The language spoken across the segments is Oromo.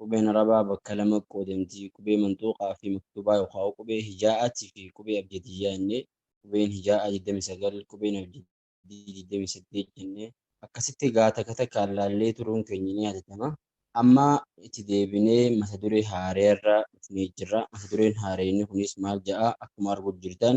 Qubeen Arabaa bakka lama qoodamti, qubee manxuuqaa fi maktuubaa yookaa qubee hijaa'aati fi qubee abjadiyyaa jennee, qubeen hijaa'aa 29, qubeen abjadiyyi 28 jennee. Akkasitti egaa takka takkaan laallee turuun keenya ni yaadatama. Amma itti deebinee mata duree haarayarra dhufnee jirra. Mata dureen haarayni kunis maal ja'a? Akkuma arguutti jirtan.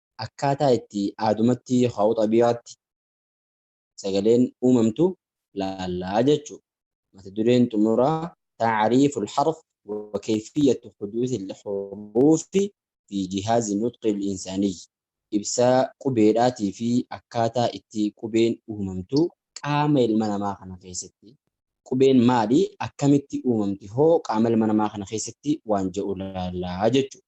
Akkaataa itti aadumatti haa'u xabii'aatti sagaleen uumamtu laalla jechuudha. Mata dureen xumuraa Ta'ariifu al-harf wa kayfiyyatu huduuthi al-huruufi fi jihaazi nutqi al-insaaniyyi Ibsa qubeedhaatii fi akkaataa itti qubeen uumamtu qaama ilma namaa kana keessatti. Qubeen maali? Akkamitti uumamti hoo qaama ilma namaa kana keessatti waan jedhu laalla jechuudha.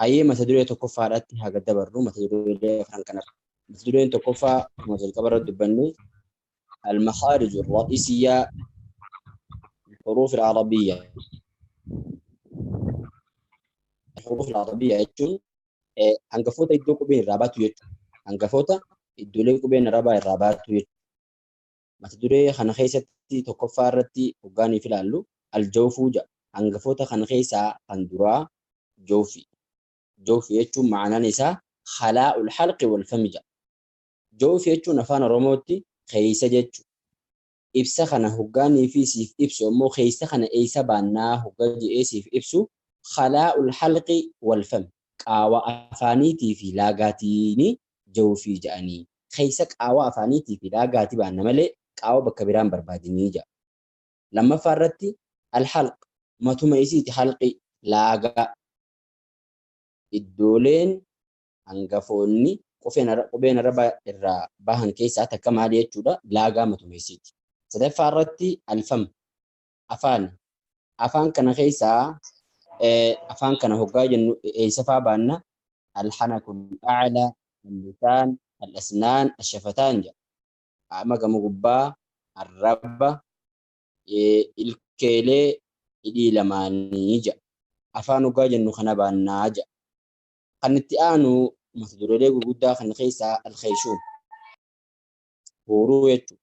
Hayyee mata duree tokkoffaadhaatti haa gad dabarru mata duree afran kanarra. Mata dureen tokkoffaa akkuma jalqaba irratti dubbanne al-makhaarij ar-ra'isiyyaa al-huruuf al-arabiyya. Al-huruuf al-arabiyya jechuun hangafoota iddoo qubeen irraa baatu jechuudha. Hangafoota iddoolee qubeen arabaa irraa baatu jechuudha. Mata duree kana keessatti tokkoffaa irratti hoggaa nuuf ilaallu Al-Jawfuu jedha. Hangafoota kana keessaa kan duraa Jawfii. Jawfi jechuun ma'anaan isaa Khalaa'ul Halqi wal Fami jedha. Jawfi jechuun Afaan Oromootti keessa jechuudha. Ibsa kana hoggaa niifii siif ibsu ammoo keessa kana eessa baannaa hogga je'ee siif ibsu Khalaa'ul Halqi wal Fami, qaawa afaaniitii fi laagaatiini jawfii ja'anii, keeysa qaawwa afaaniitii fi laagaati baanna malee qaawwa bakka biraa hin barbaadinii ja'a. Lammaffaa irratti Al-halq, matuma isiiti halqi, laagaa. Iddooleen hangafoonni qufeen qubeen araba irraa bahan keeysaa takka maali jechuudha? Laagaa matuma isiiti. Sadaffaa irratti Al-fam, afaani. Afaan kana keessaa afaan kana hoggaa jennu eessa faa baanna? Alhanakul a'la, allisaan, alasnaan, ashafataan jedha. Qaama gama gubbaa, arraba, ilkeelee, hidhii lamaanii jedha. Afaan hoggaa jennu kana baannaa jedha. Kan itti aanu mata dureelee gurguddaa kana keessaa alkheeshuum. Huuruu jechuudha.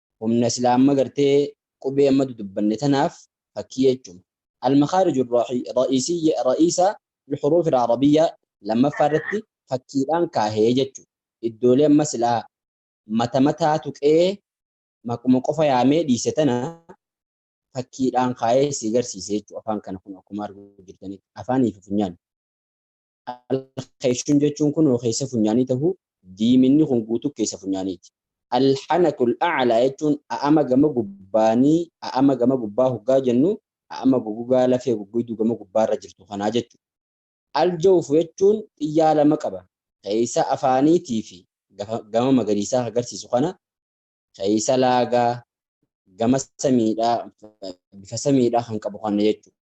humna silaa amma gartee qubee amma dudubbanne tanaaf fakkii jechuma. Al-makhaariju ar-ra'iisiyya ra'iisa al-huruuf al-arabiyya lammaffaa irratti fakkiidhaan kaahe jechu. Iddoolee amma silaa mata mataa tuqee maquma qofa yaamee dhiise tana fakkiidhaan kaayee sii garsiise jechu afaan kana kun akkuma arguu jirtanitti afaanii fi funyaan. Al-kheeshun jechuun kunoo keessa funyaanii tahuu, diiminni kun guutuu keessa funyaaniiti. Al-hanakul a'laa jechuun a'ama gama gubbaanii, a'ama gama gubbaa hoggaa jennu a'ama gogogaa lafee goggoyduu gama gubbaarra jirtu kanaa jechuudha. Al-jawfu jechuun xiyyaa lama qaba, keessa afaaniitii fi gama magariisaa ka garsiisu kana, keessa laagaa, gama samiidhaa, bifa samiidhaa kan qabu kana jechuudha.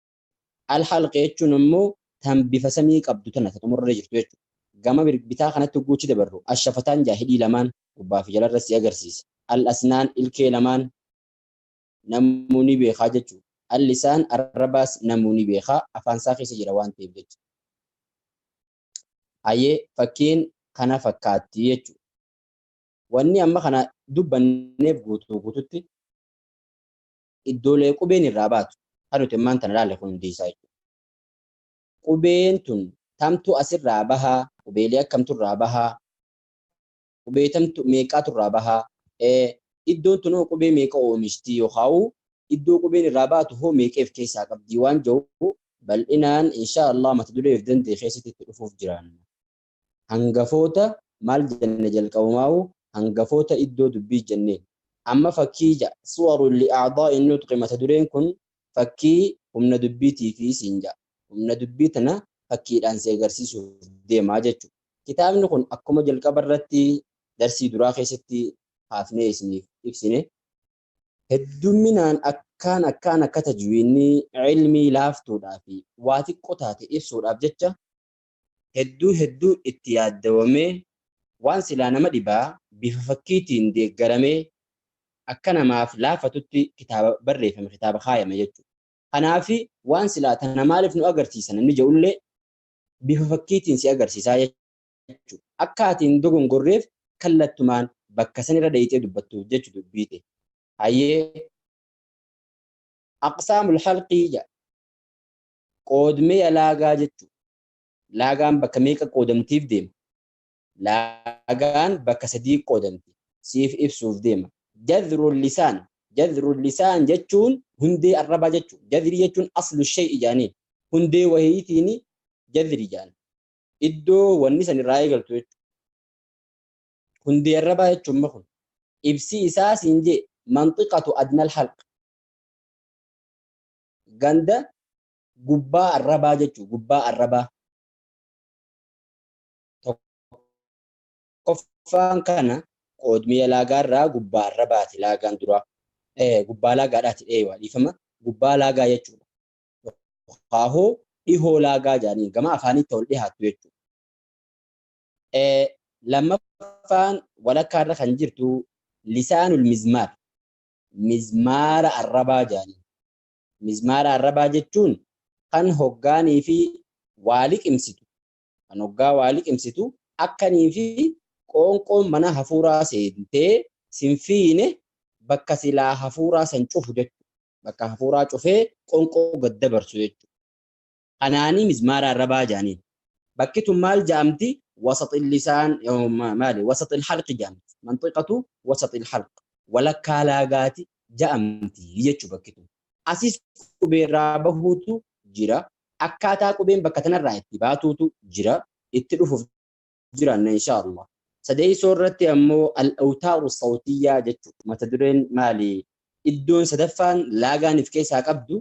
Al-halqa jechuun ammoo tan bifa samii qabdu tana ta xumurarra jirtu jechuudha. Gama bitaa kanatti hogguu achi dabarru, ash-shafataan ja'a hidhii lamaan, gubbaa fi jalarra si agarsiisa. Al-asnaan ilkee lamaan, namuu ni beekaa jechuudha. Al-lisaan arrabaas namuu ni beekaa, afaan isaa keessa jira waan ta'eef jecha. Hayyee fakkiin kana fakkaatti jechuudha. Wanni amma kana dubbanneef guutuu guututti iddoolee qubeen irraa baatu kan nuti ammaan tana ilaalle kun hundi isaa jechuudha. Qubeen tun tamtu asirraa bahaa, qubeelee akkamtu irraa bahaa, qubee tamtu meeqaatu irraa bahaa, iddoon tun hoo qubee meeqa oomishtii yookaan iddoo qubeen irraa baatu hoo meeqa of keessaa qabdii waan jedhu bal'inaan inshaa Allah mata duree of danda'e keessatti itti dhufuuf jiraanna. Hangafoota maal jenne jalqabumaahu hangafoota iddoo dubbii jenneen. Amma fakkii 6. Suwarun li a'daa'i nutqi mata dureen kun fakkii humna dubbiitiifi siin ja'a. Humna dubbii tana fakkiidhaan si agarsiisuuf deema jechu. Kitaabni kun akkuma jalqaba irratti darsii duraa keessatti kaafnee isiniif ibsine hedduminaan akkaan akkaan akka tajwiidni, ilmii, laaftuudhaa fi waa xiqqo taate ibsuudhaaf jecha hedduu hedduu itti yaaddawamee waan silaa nama dhibaa bifa fakkiitiin deeggaramee akka namaaf laafatutti kitaaba barreeffame kitaaba kaayame jechu. Kanaafi waan silaa tana maaliif nu agarsiisa namni ja'ullee bifa fakkiitiin si agarsiisaa jechu. Akka ati hin dogongorreef kallattumaan bakka san irra dheyxee dubbattuuf jechu dubbii tee. Hayyee. Aqsaamul halqii ja'a. Qoodmeeya laagaa jechuun laagaan bakka meeqa qoodamtiif deema? Laagaan bakka sadii qoodamti siif ibsuuf deema. Jadhrul lisaan Jadhrul lisaan jechuun hundee arrabaa jechuun jadhrii jechuun aslu shay'i jaaniin hundee wahiitiin jadhrii jaan iddoo wanni san irraa eegaltu jechuudha. Hundee arrabaa jechuun ma kun ibsii isaa siin jee manxiqatu adnal halq. Ganda Gubbaa Arrabaa jechuun Gubbaa Arrabaa. Tokkoffaan kana qoodmee laagaa irraa Gubbaa Arrabaati laagaan duraa. Gubbaa laagaadhaati dheeywa dhiifama. Gubbaa laagaa jechuudha. Haahoo dhihoo laagaa jedhanii gama afaaniitti ol dhihaattu jechuudha. Lammaffaan walakkaa irra kan jirtu Lisaanul Mizmaar. mizmaara arrabaa jedhaniin. Mizmaara arrabaa jechuun kan hoggaanii fi waa liqimsitu, kan hoggaa waa liqimsitu akkanii fi qoonqoon mana hafuuraa seentee sin fiine bakka silaa hafuuraa san cufu jechuudha. Bakka hafuuraa cufee qonqoo gad dabarsu jechuudha. Kanaanii mizmaara arrabaa ja'aniin. Bakki tun maal ja'amti? Wasaxil lisaan maali? Wasaxil halqi ja'amti. Manxiqatu wasaxil halq. Walakkaa laagaati ja'amti jechu bakki tun. Asis qubeerraa bahuutu jira. Akkaataa qubeen bakka tanarraa itti baatuutu jira. Itti dhufuuf jiraanna inshaa Allah. Sadeessoo irratti ammoo al-awtaaru sawtiyyaa jechuudha. Mata dureen maali? Iddoon sadaffaan laagaan if keessaa qabdu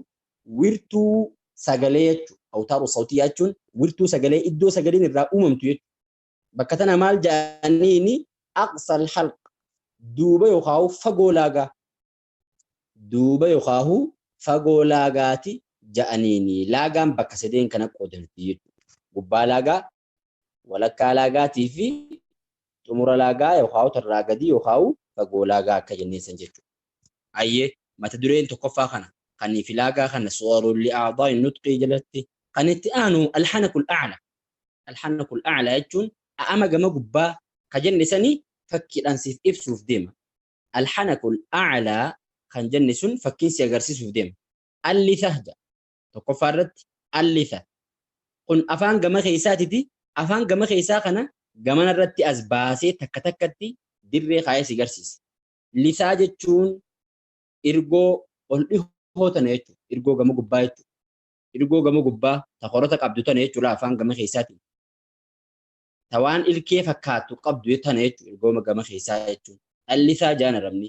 wirtuu sagalee jechuudha. Awtaaru sawtiyyaa jechuun wirtuu sagalee iddoo sagaleen irraa uumamtu jechuudha. Bakka tana maal jedhaniini aqsal halq duuba yookaan fagoo laagaa duuba yookaan fagoo laagaati jedhaniini laagaan bakka sadeen kana qoodamti jechuudha. Gubbaa laagaa walakkaa laagaatii fi xumura laagaa yookaan tarraa gadii yookaan fagoo laagaa akka jennee san jechuudha. Ayyee mata dureen tokkoffaa kana kan fi laagaa kana suwarun li'aadaa'i nutqii jalatti kan itti aanu alhanakul a'la alhanakul a'la jechuun a'ama gama gubbaa ka jenne sani fakkiidhaan siif ibsuuf deema alhanakul a'la kan jenne sun fakkiin si agarsiisuuf deema alli sahja tokkoffaa irratti allifa kun afaan gama keessaatiti afaan gama keessaa kana gamana irratti as baasee takka takkatti dirree kaayee si garsiisa. Lisaa jechuun irgoo ol dhihoo tana jechuudha. Irgoo gama gubbaa jechuudha. Irgoo gama gubbaa ta korota qabdu tana jechuudha afaan gama keessaatiin. Ta waan ilkee fakkaatu qabdu tana jechuudha irgooma gama keessaa jechuudha. Dhallisaa jaan arabni.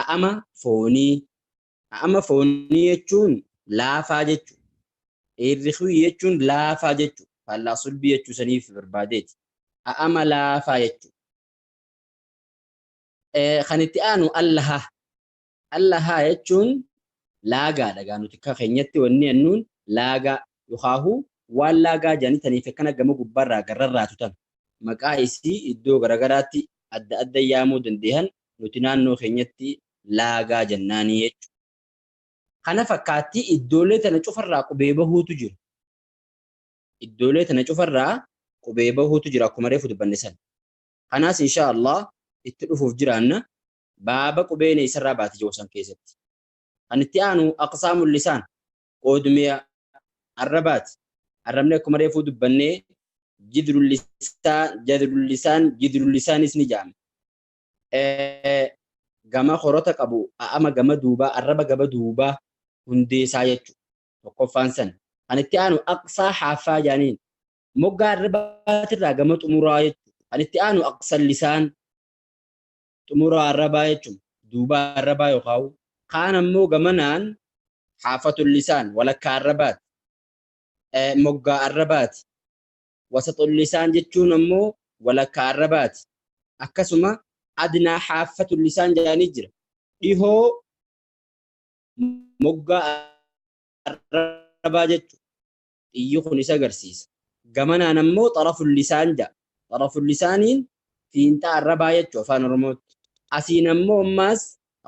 A'ama foonii. A'ama foonii jechuun laafaa jechu. Irrikwi jechuun laafaa jechu. Faallaa sulbii jechuu saniif barbaadeeti. A'ama laafaa jechu. Kan itti aanu allaha. Allaha jechuun laagaadha. Gaa nuti akka keenyatti wanni annuun laagaa. Yokhaahuu waan laagaa jedhanii tanii fekkana gama gubbaarraa gad rarraatu tana. Maqaa isii iddoo garagaraatti adda adda yaamuu dandeehan nuti naannoo keenyatti laagaa jennaanii jechu. Kana fakkaattii iddoolee tana cufarraa qubee bahuutu jiru. Iddoolee tana cufarraa qubee bahuutu jira akkuma reefu dubbanne san. Kanaas inshaa Allah itti dhufuuf jiraanna. Baaba qubeen eessarraa baati je'u san keessatti. Kan itti aanu aqsaamul lisaan qoodumee arrabaati. Arrabni akkuma reefuu dubbannee jidrul lisaan, jadrul lisaan, jidrul lisaanis ni jedhama. Gama horota qabu a'ama gama duubaa arraba gama duubaa hundeessaa jechuudha. Tokkoffaan san. Kan itti aanu aqsaa haaffaa jedhaniin. Moggaa arrabaatirraa gama xumuraa jechuudha. Kan itti aanu aqsal lisaan. xumura arrabaa jechuun duuba arrabaa yookaan kaan ammoo gamanaan haafatul lisaan walakkaa arrabaati. Moggaa arrabaati. Wasaxul lisaan jechuun ammoo walakkaa arrabaati. Akkasuma adnaa haafatul lisaan jedhanii jira. Dhihoo moggaa arrabaa jechuun xiyyi kun isa garsiisa. Gamanaan ammoo xaraful lisaan ja'a. Xaraful lisaaniin fiinxaa arrabaa jechuu afaan oromootti. Asiin ammoo ammaas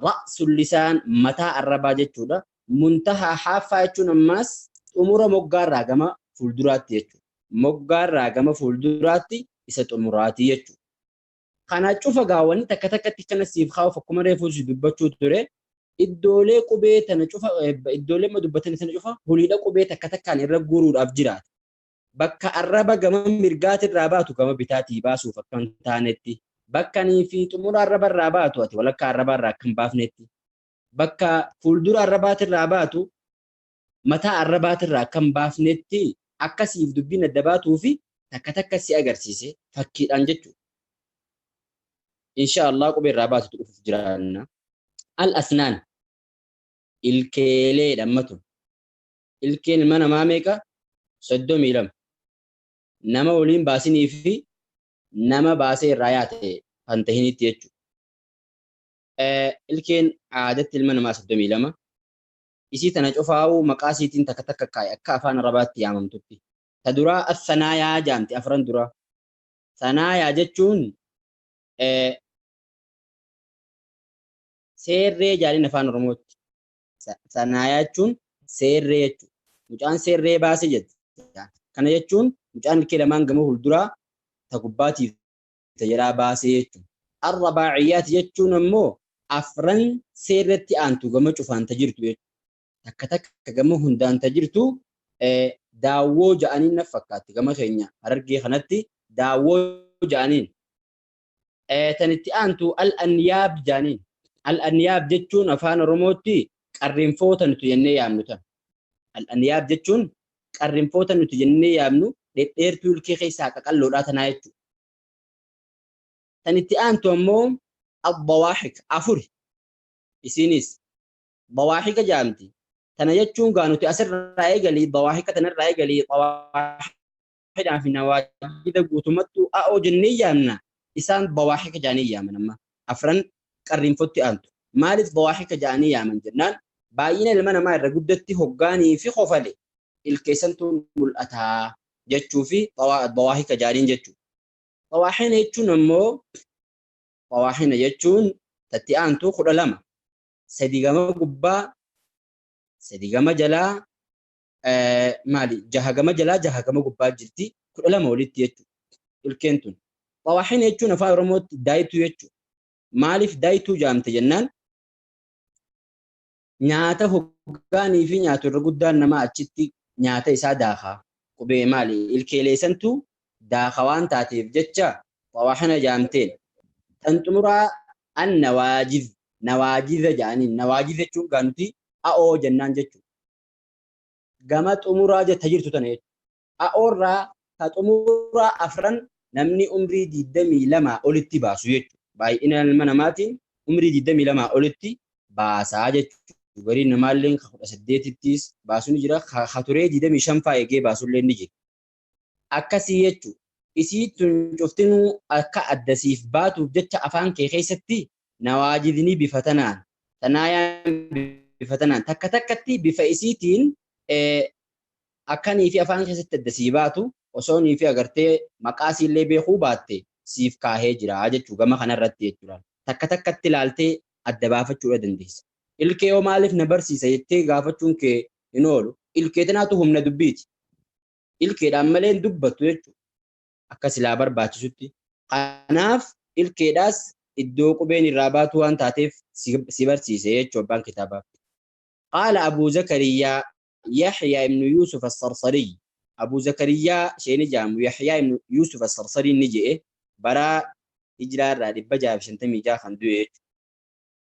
ra'sul lisaan mataa arrabaa jechuudha. Muntahaa haaffaa jechuun ammaas xumura moggaarraa gama fuulduraatti jechuudha. Moggaarraa gama fuulduraatti isa xumuraati jechuudha. Kana cufa gaa wanni takka takkatti kana siif kaa'uuf akkuma reefuu si dubbachuu ture iddoolee qubee tana cufa iddoolee amma dubbatan sana cufa holiidha qubee takka takkaan irra guuruudhaaf jiraata. Bakka arraba gama mirgaatiin irraa baatu gama bitaatii baasuuf akka hin taanetti bakkanii fi xumura arraba irraa baatu ati walakkaa arrabaa irraa akka hin baafnetti bakka fuuldura arrabaatiin irraa baatu mataa arrabaatirraa akka hin baafnetti akka siif dubbiin adda baatuufi takka takka si agarsiise fakkiidhaan jechuudha. Inshaa Allah qubee irraa baatutu dhufuuf jiraanna. Al asnaan ilkeeleedha amma tun. Ilkeen ilma namaa meeqa? Soddomii lama. Nama waliin baasinii fi nama baasee irraa yaate kan tahinitti jechuudha. Ilkeen aadatti ilma namaa soddomii lama. Isii tana cufaa'uu maqaa isiitiin takka takka kaa'i akka afaan Arabaatti yaamamtutti. Ta duraa As-Sanaayaa jaamti afran duraa. Sanaayaa jechuun eh, seerree jaaniin afaan Oromootti. Sa- Sanaayaa jechuun seerree jechuudha. Mucaan seerree baase jette. Kana jechuun mucaan ilkee lamaan gama fuulduraa ta gubbaatiif isa jalaa baase jechu. Arrabaa'iyaati jechuun ammoo afran seerratti aantu gama cufaan ta jirtu jechu. Takka takka gama hundaan ta jirtu daawwoo ja'aniin naf fakkaatti gama keenya harargee kanatti daawwoo ja'aniin. Tan itti aantu al-anyaab ja'aniin. Al-anyaab jechuun afaan oromootti qarrinfoo ta nuti jennee yaamnu tan. Al-anyaab jechuun qarrinfoota nuti jennee yaamnu dhedheertuu ilkee keessaa qaqalloodhaa tanaa jechuudha. Tan itti aantu ammoo abbawaaxik afuri isiinis bawaaxika jaamti. Tana jechuun gaa nuti asirraa eegalii bawaaxika tanarraa eegalii bawaaxidhaa fi nawaajida guutumattuu a'oo jennee yaamna isaan bawaaxika jaanii yaaman amma afran qarrinfotti aantu. Maaliif bawaaxika ja'anii yaaman jennaan baay'ina ilma namaa irra guddatti hoggaanii fi kofale ilkeessantu mul'ata jechuu fi bawaaxika ja'aniin jechu. Bawaaxina jechuun ammoo bawaaxina jechuun tatti aantu kudha lama sadi gama gubbaa sadi gama jalaa maali jaha gama jalaa jaha gama gubbaa jirti kudha lama olitti jechuudha ilkeen tun. Xawaaxina jechuun afaan Oromootti daayituu jechuudha. Maaliif daayituu jaamte jennaan nyaata hoggaanii fi nyaatu irra guddaan namaa achitti nyaata isaa daakaa qubee maali ilkeelee santu daaka waan taateef jecha xawaaxina jaamteen. Tan xumuraa an nawaajiz nawaajiza jedhaniin nawaajiz jechuun gaa nuti a'oo jennaan jechuudha. gama xumuraa jetta jirtu tana jechuudha. A'oorraa ka xumuraa afran namni umrii 22 olitti baasu jechuudha. Baay'ina ilma namaatiin umrii 22 olitti baasaa jechuudha. Gariin namaallee ka 18ttis baasu ni jira. Ka turee 25 faa eegee baasullee ni jira. Akkasii jechu, isii tun cuftinuu akka adda siif baatuuf jecha afaan kee keessatti nawaajidni bifa tanaan, sanaayaan bifa tanaan, takka takkatti bifa isiitiin akka niifi afaan keessatti adda sii baatu osoo niifi agartee maqaa isiillee beekuu baatte siif kaahee jira jechu gama kanarratti jechuudha. Takka takkatti laaltee adda baafachuudha dandeessa. Ilkee hoo maaliif na barsiisa jettee gaafachuun kee hin oolu. Ilkee tanaatu humna dubbiiti. ilkeedhaan malee hin dubbattu jechuudha. Akka silaa barbaachisutti. Kanaaf ilkeedhaas iddoo qubeen irraa baatu waan taateef si barsiise jechuu abbaan kitaabaa. Qaala Abuu Zakariyyaa Yahyaa ibnu Yuusuf Assarsariy. Abuu Zakariyyaa sheeni jaamu Yahyaa ibnu Yuusuf Assarsariin ni je'e baraa hijraa irraa 656 kan du'e jechuudha.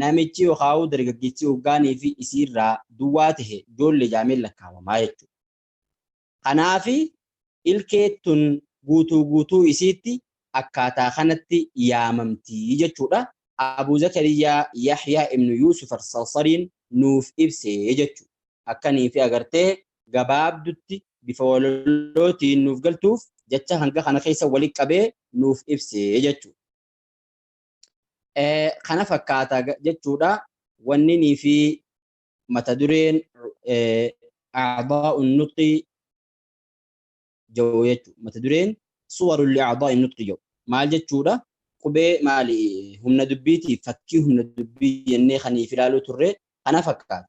Namichi yookaa'uu dargaggichi hoggaanii fi isiirraa duwwaa tahe joolle jaameen lakkaawamaa jechu. Kanaafi ilkee tun guutuu guutuu isiitti akkaataa kanatti yaamamti jechuudha. Abuu Zakariyyaa Yahyaa ibnu Yuusuf Al-Sarsariin nuuf ibse jechu. Akkaniifi agartee gabaabdutti bifa walalootiin nuuf galtuuf jacha hanga kana keessa walitti qabee nuuf ibse jechu. kana fakkaata jechuudha wanninii fi mata dureen a'daa'un nutqi jedhu jechuudha mata dureen suwarul li'a'daa'in nutqi jedhu maal jechuudha qubee maali humna dubbiitiif fakkii humna dubbii jennee kan if ilaaluu turre kana fakkaata.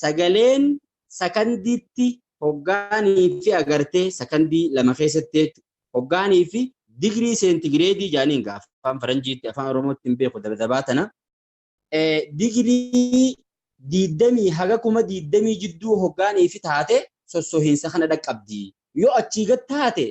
sagaleen sakandiitti hoggaanii fi agartee sakandii lama keessatti jechuudha. Hoggaanii fi digirii seentigireedii jaaniin gaafa afaan faranjiitti afaan oromootti hin beeku dabadabaa tana. Digirii diiddamii haga kuma diiddamii jidduu hoggaanii fi taate sossohiinsa kana dhaqqabdi. Yoo achii gad taate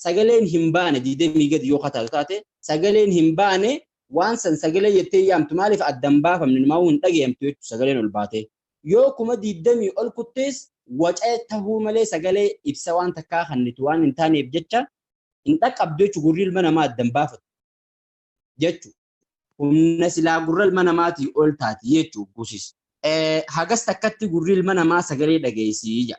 sagaleen hin baane 20 gadi yoo kataatu taate sagaleen hin baane waan san sagalee jettee yaamtu maaliif adda hin baafamne numaa'uu hin dhagayamtu jechuudha sagaleen ol baatee yoo kuma 20 ol kuttees waca tahuu malee sagalee ibsa waan takkaa kannitu waan hin taaneef jecha hin dhaqqabdu jechuudha gurri ilma namaa adda hin baafatu jechuudha. humna silaa gurra ilma namaatii ol taati jechuu gusis. Hagas takkatti gurri ilma namaa sagalee dhageessii jira.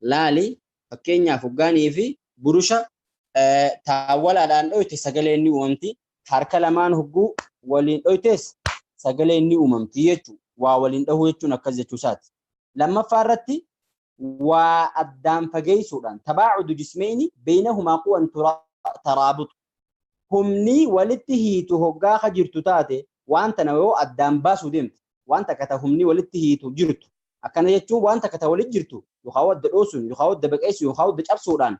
laali. Fakkeenyaaf hoggaa niifi burusha taawwalaadhaan dhoyte sagaleen ni uumamti. Harka lamaan hogguu waliin dhoytes sagaleen ni uumamti jechuudha. Waa waliin dhahuu jechuun akkas jechuusaati. Lammaffaa irratti waa addaan fageessuudhaan tabaacudu jismeyni beynahumaa quwan taraabutu. humni walitti hiitu hoggaa ka jirtu taate waan tana yoo addaan baasuu deemte waan takka ta humni walitti hiitu jirtu akkana jechuun waan takka ta walitti jirtu yookaa wadda dhoosuun yookaa wadda baqeessuun yookaa wadda cabsuudhaan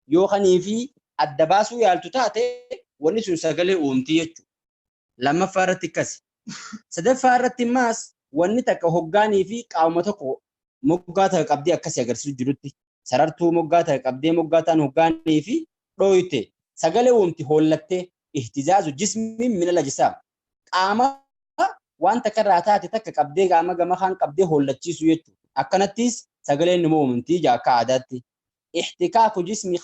yoo kanii fi adda baasuu yaaltu taate wanni sun sagalee uumti jechu lammaffaa irratti akkasi sadaffaa irratti maas wanni takka hoggaanii fi qaama tokko moggaa takka qabdee akkasi agarsiisu jirutti sarartuu moggaa takka qabdee moggaa taan hoggaanii fi dhooyte sagalee womti hoollattee ihtizaazu jismiin minal ajisaam qaama waan takka irraa taate takka qabdee qaama gama kaan qabdee hoollachiisuu jechuudha. Akkanattis sagaleen numa uumamti ija akka aadaatti. Ihtikaaku jismi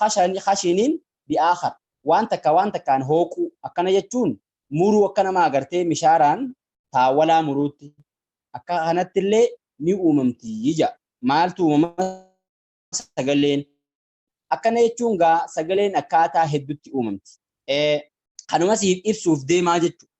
khashiniin bi'aakhar waan takka waan takkaan hooquu akkana jechuun muruu akka nama agartee mishaaraan taawwalaa muruutti Akka kanatti illee ni uumamti jedha. Maaltu uumama? Sagaleen. Akkana jechuun gaa sagaleen akkaataa heddutti uumamti. Kanuma siif ibsuuf deemaa jechuudha.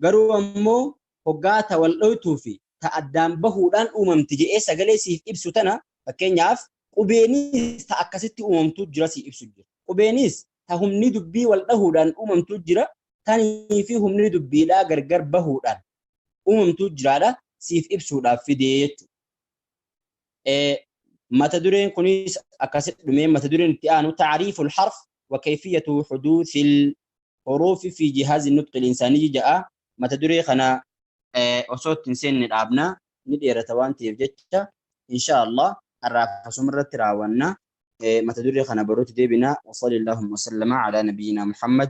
Garuu ammoo hoggaa ta wal dhoytuu fi ta addaan bahuudhaan uumamti jedhee sagalee siif ibsu tana fakkeenyaaf qubeenis ta akkasitti uumamtu jira siif ibsu jira. Qubeenis ta humni dubbii wal dhahuudhaan uumamtu jira tanii fi humni dubbiidhaa gargar bahuudhaan uumamtuu jiraadha siif ibsuudhaaf fidee jechuudha. Mata dureen kunis akkasitti dhumee mata dureen itti aanu taariiful harf wa keefiyatu huduusil huruufi fi jihaazi nutqil insaanii ja'a mata duree kana osoo itti hin seenne dhaabna ni dheerata waan ta'eef jecha insha Allah har'aaf asuma irratti raawwanna mata duree kana baruutti deebina wa sallallahu wa sallama ala nabiyyina Muhammad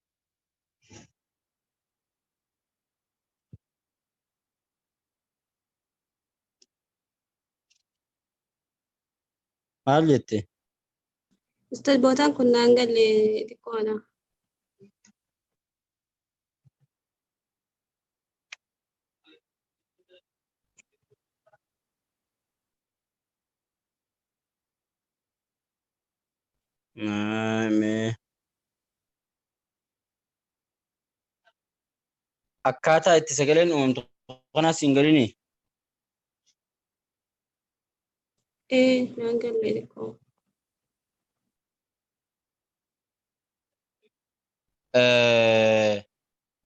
Maal jette? Ustaz bootaan kun naan galle xiqqoo ana. Akkaataa itti sagaleen uumamtu kanaas hin galinii? Ee, naan galle xiqqoo.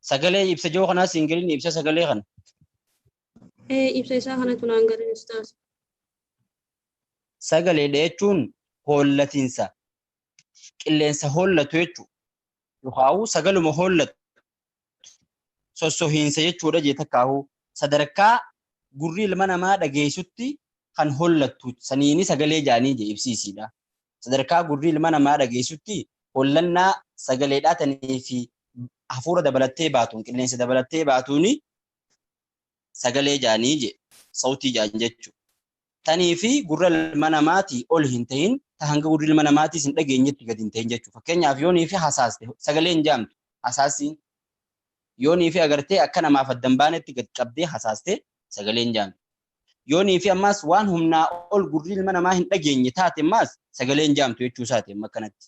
Sagalee ibsa jiru kanaas hin galinii ibsa sagalee kana? Ibsa isaa kanatu naan galee ustaaz. Sagaleedha jechuun hollatinsa qilleensa hollatu jechuudha. Yookaan sagaluma hollatu sossohiinsa jechuudha jee takkaahuu sadarkaa gurri ilma namaa dhageessutti kan hollattu saniini sagalee jaanii jee ibsiisiidha. Sadarkaa gurri ilma namaa dhageessutti hollannaa sagaleedhaa tanii fi hafuura dabalattee baatuun qilleensa dabalattee baatuuni sagalee jaanii je sawtii jaan jechu tanii fi gurra ilma namaati ol hin tahin ta hanga gurri ilma namaatiis hin dhageenyetti gad hin tahin jechu fakkeenyaaf yoonii fi hasaaste sagalee hin jaamtu hasaasiin yoonii fi agartee akka namaaf addan baanetti gad qabdee hasaaste sagalee hin jaamtu yoonii fi ammaas waan humnaa ol gurri ilma namaa hin dhageenye taate ammaas sagalee hin jaamtu jechuu isaati amma kanatti